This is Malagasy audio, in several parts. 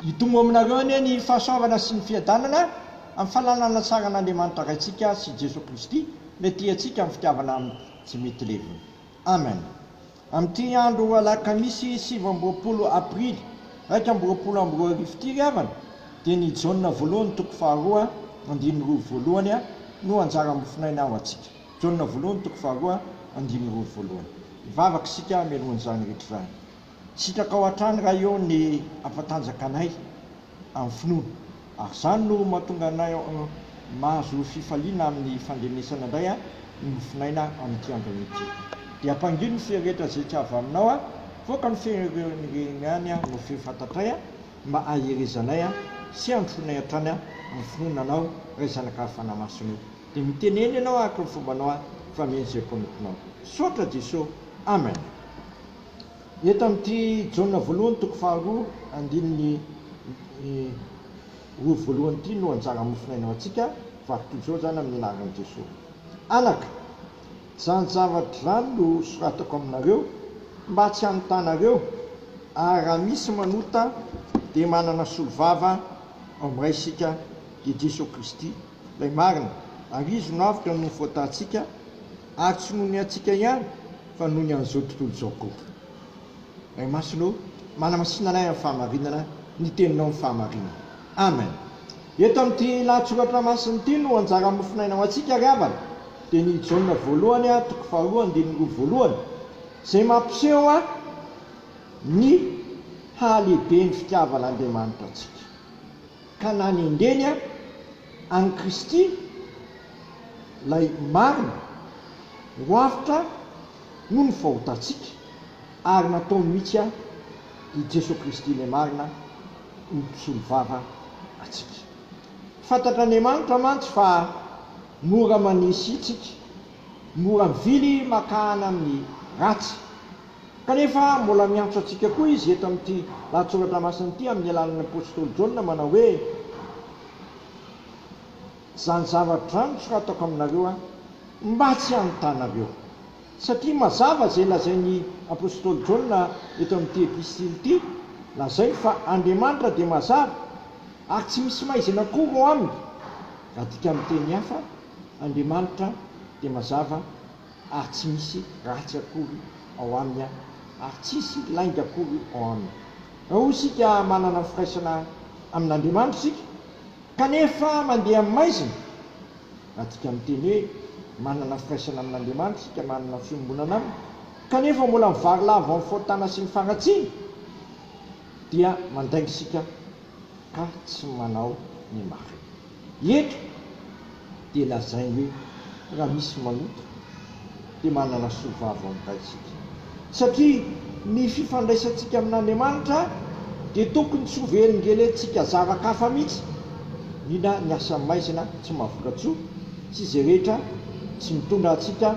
Hitombo aminareo anie ny fahasoavana sy ny fiadanana amin'ny fananana ny saran'Andriamanitra Raintsika sy Jesoa Kristy Ilay tia antsika amin'ny fitiavana aminy tsy mety levona. Amen. Amin'ity andro alakamisy sivy amby roapolo aprily iraika amby roapolo amby roa arivo ity ry havana dia ny Jaona voalohany toko faharoa andininy roa voalohany no anjara mofonaina ho antsika. Jaona voalohany toko faharoa andininy roa voalohany. Hivavaka isika mialohan'izany rehetra izany. Sitrakao hatrany Ray ô ny hampatanjaka anay amin'ny finoana ary izany no mahatonga anay mahazo fifaliana amin'ny fandrenesana indray ny mofonaina amin'ity androny ity. Dia ampangino ny fery rehetra izay tsy avy aminao a, voaka ny fery ireny ihany no feo fantatray mba haherezanay sy handrosoanay hatrany amin'ny finoana anao Ray Zanaka Fanahy Masina ô. Dia mitenena ianao araka ny fombanao fa mino izay prometinao. Misaotra Jeso. Amen. Eto amin'ity Jaona voalohany toko faharoa andininy roa voalohany ity no anjaran'ny mofonaina ho antsika, vaky toy izao izany amin'ny anaran'i Jesoa. Anaka, izany zavatra izany no soratako aminareo mba tsy hanotanareo, ary raha misy manota dia manana solovava ao amin'ny Ray isika, dia Jesoa Kristy, Ilay marina, ary Izy no avotra noho ny faotantsika, Ary tsy noho ny antsika ihany fa noho ny an'izao tontolo izao koa. Ray Masina ô, manamasina anay amin'ny fahamarinana, ny Teninao no fahamarinana. Amen. Eto amin'ity lahatsoratra masina ity no anjara mofon'aina ho antsika ry havana, dia ny Jaona voalohany a, toko faharoa andininy roa voalohany, izay mampiseho a ny hahalehiben'ny fitiavan'Andriamanitra antsika, ka nanendreny a. An'i Kristy, Ilay marina, ho avotra noho ny fahotantsika, ary nataony mihitsy aho, i Jesoa Kristy Ilay Marina, ho mpisolovava antsika. Fantatr'Andriamanitra mantsy fa mora manisy isika, mora mivily makahana amin'ny ratsy. Kanefa mbola miantso antsika koa Izy eto amin'ity lahatsoratra masina ity amin'ny alalan'ny apostoly Jaona manao hoe. Zany zavatra zany no ataoko aminareo an, mba tsy hanotanareo. Satria mazava izay lazain'ny apostoly Jaona eto amin'ity epistily ity, lazainy fa Andriamanitra dia mazava ary tsy misy maizina akory ao aminy. Raha adika amin'ny teny hafa, Andriamanitra dia mazava. ary tsy misy ratsy akory ao aminy ary tsisy lainga akory ao aminy. Raha isika manana firaisana amin'Andriamanitra isika kanefa mandeha amin'ny maizina, raha tika miteny hoe manana firaisana amin'Andriamanitra isika, manana fiombonana aminy, kanefa mbola mivarilavo amin'ny fahotana sy ny faharatsiana, dia mandainga isika ka tsy manao ny marina. Eto dia lazainy hoe raha misy manota dia manana soa vava ao amin'Ray isika. Satria ny fifandraisantsika amin'Andriamanitra dia tokony tsy ho velingelentsika zava-kafa mihitsy, indrindra ny asa maizina tsy maha-voka-tsoa sy izay rehetra tsy mitondra antsika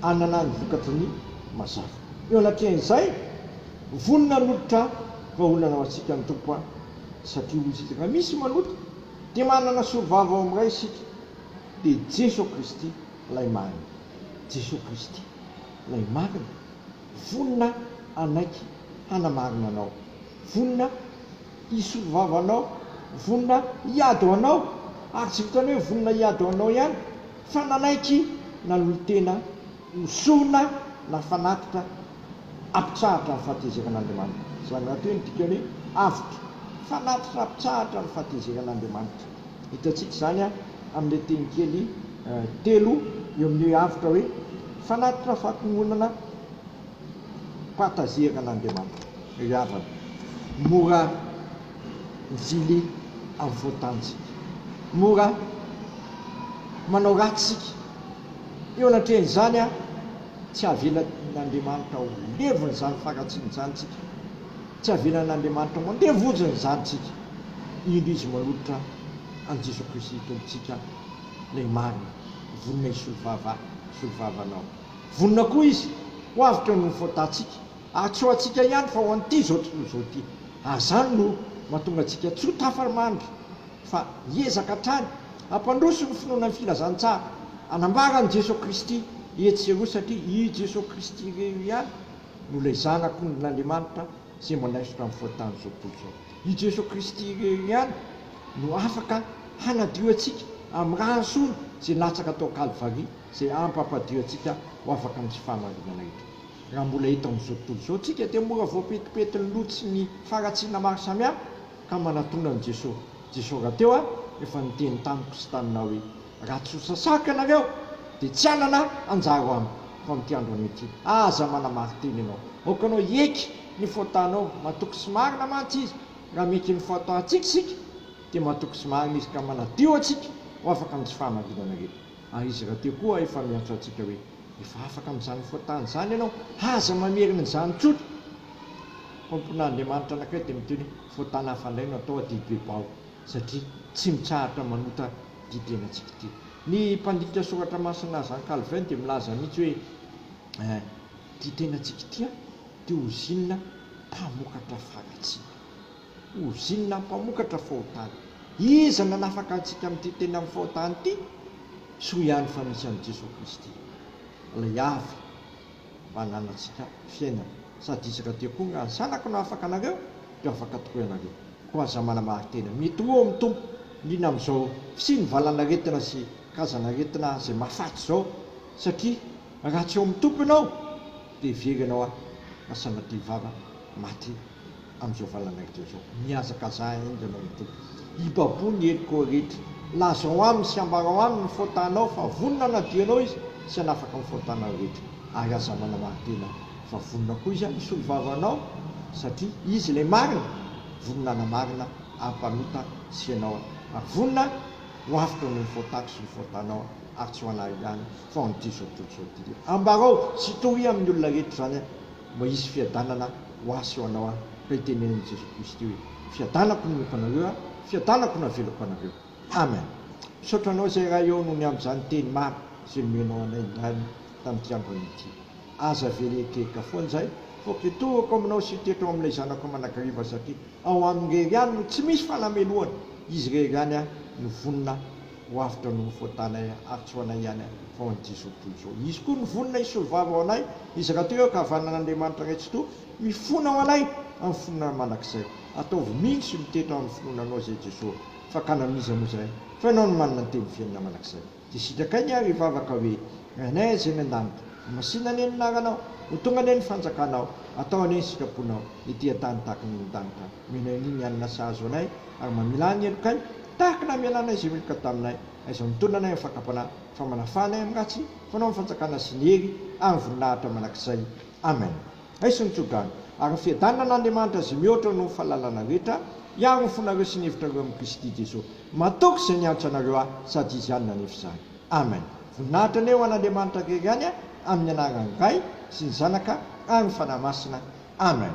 hanana ny vokatry ny mazava. Eo anatrehan'izay, vonona hanolotra vahaolana ho antsika ny Tompo an! Satria hoy isika, raha misy manota, dia manana solovava ao amin'ny Ray isika, dia Jeso Kristy Ilay marina. Jeso Kristy Ilay marina vonona hanaiky hanamarina anao, vonona hisolovava anao, vonona hiady ho anao, ary tsy vitan'ny hoe vonona hiady ho anao ihany, fa nanaiky nanolo-tena Misona na fanatitra ampitsahatra ny fahatezerana Andriamanitra. Izany rahateo ny dikany avotra. Fanatitra ampitsahatra ny fahatezerana Andriamanitra. Hitantsika izany amin'ilay teny kely telo eo amin'ny hoe avotra hoe, fanatitra fahatononana pahatazerana Andriamanitra. Ry havana, mora mivily amin'ny foan-tanintsika. Mora manao ratsy isika. Eo anatrehan'izany, tsy havelan'Andriamanitra ho levona izany fahatsiana izany tsika. Tsy havelan'Andriamanitra mandeha vonjiny izany tsika, indro Izy manolotra an'i Jesoa Kristy Tompontsika, Ilay Marina, vonona hisolo vava hisolo vava anao. Vonona koa Izy ho avotra noho ny faotantsika, ary tsy ho antsika ihany fa ho an'ity izao tontolo izao ity. Azany no mahatonga antsika tsy ho tafa-mandry. fa hiezaka hatrany hampandroso ny finoana ny Filazantsara hanambara an'i Jesoa Kristy etsy sy eroa satria i Jesoa Kristy re io ihany no ilay Zanak' ondrin' Andriamanitra izay manaisotra ny fahotany izao tontolo izao. I Jesoa Kristy re io ihany no afaka hanadio antsika amin'ny rany sony izay latsaka tao Kalvary izay hampampadio antsika ho afaka amin'izao fahamarinana ito. Raha mbola eto amin'izao tontolo izao tsika dia mora voapetipeti ny loto sy ny faharatsiana maro samihafa, Ka manatona an'i Jesoa. Jesoa rahateo aho efa niteny tamiko sy taminao hoe, Raha tsy ho sasàka ianareo, dia tsy hanana anjara Amiko, fa amin'ity andro anio ity, aza manamarin-teny ianao. Aoka ianao hieky ny fôtanao, matoky sy marina mantsy Izy. Raha mieky ny fôtantsika isika, dia matoky sy marina Izy ka manadio antsika ho afaka amin'izay fahamarinana rehetra. Ary izy rahateo koa efa miantso antsika hoe, Efa afaka amin'izany foatany izany ianao, aza mamerina izany tsotra! Tompon'Andriamanitra anankiray dia miteny hoe, Foatany hafandray no atao aty Bilbao, satria tsy mitsahatra manota ity tenantsika ity. Ny mpandika Soratra Masina Jean Calvin dia milaza mihitsy hoe, Ity tenantsika ity dia ozinina mpamokatra faharatsiana. Ozinina mpamokatra fahotana. Iza no hanafaka antsika amin'ity teny amin'ny fahotana ity? Soa ihany fa misy an'i Jesoa Kristy, Ilay avy mba hananantsika fiainana. Sady izy rahateo koa nga ny Zanako no afaka anareo dia afaka tokoa ianareo. Koa aza manamarin-tena. Mety ho eo ny Tompo, liana amin'izao fisian'ny valan'aretina sy karazan'aretina izay mahafaty izao, satria raha tsy eo amin'ny Tompo ianao, Dia very ianao aho na sanatria vava maty amin'izao valan'aretina izao. Mihazakazaha enga ianao ho tody. Ibaboho ny heriko rehetra. Lazao aminy sy ambarao aminy ny faotanao fa vonona hanadio anao izy sy hanafaka ny faotanao rehetra. Ary aza manamarin-tena fa vonona koa izy hanosolo vava anao satria izy ilay marina, vonona hanamarina ara-panota sy ianao ary vonona ho avotra noho ny faotako sy ny faotanao ary tsy ho anao ihany. Frandy Zoto Jody. Ambarao sy toria amin'ny olona rehetra izany an, mba hisy fiadanana ho ahy sy ho anao an, raha itenenin'i Jesoa Kristy hoe, Fiadanako no omeko anareo an, fiadanako no avelako anareo. Amen. Misaotra anao izay Ray ô noho ny amin'izany teny maro izay nomenao anay indray tamin'ity andro anio ity. Aza very ekerika foana izahay fa ke toroko aminao sy teto ao amin'ilay zanako manakariva satria ao aminy irery ihany no tsy misy fanamelohana, izy irery ihany an no vonona Ho avy tao amin'ny fotanay atsy ho anay ihany vao an'ity izao tontolo izao. Izy koa no vonona hisolovava ho anay, izy rahateo eo ankavanan'Andriamanitra Ray Tsitoha, mifona ho anay amin'ny finoana mandrakizay. Ataovy mino sy mitety ao amin'ny finoana Anao izay Jesoa. Fakana amin'iza moa izay fa Ianao no manana ny teny fiainana mandrakizay. Dia sitrakay ny ahy ry vavaka hoe, Ry Anay Azz any an-danitra, ho masina anie ny anaranao, ho tonga anie ny fanjakanao, atao anie ny sitraponao, ety an-tany tahaka ny any an-danitra. Mino an'i ny alina sahazo anay ary mamilà ny helokay tahaka ny hamelanay izay meloka taminay, aiza mitondra anay amin'ny fakam-panahy, fa manafà anay amin'ny ratsy, fanao ny fanjakana sy ny hery ary ny voninahitra mandrakizay. Amen. Aiso ny tso-drano, ary ny fiadanana an'Andriamanitra izay mihoatra noho ny fahalalana rehetra, hiaro ny fonareo sy ny hevitrareo amin'i Kristy Jesoa. Matoky izay niantso anareo ahy, sady Izy ihany nanefa izany. Amen. Voninahitra anie ho an'Andriamanitra rery ihany an, amin'ny anaran'ny Ray, sy ny Zanaka, ary ny Fanahy Masina. Amen.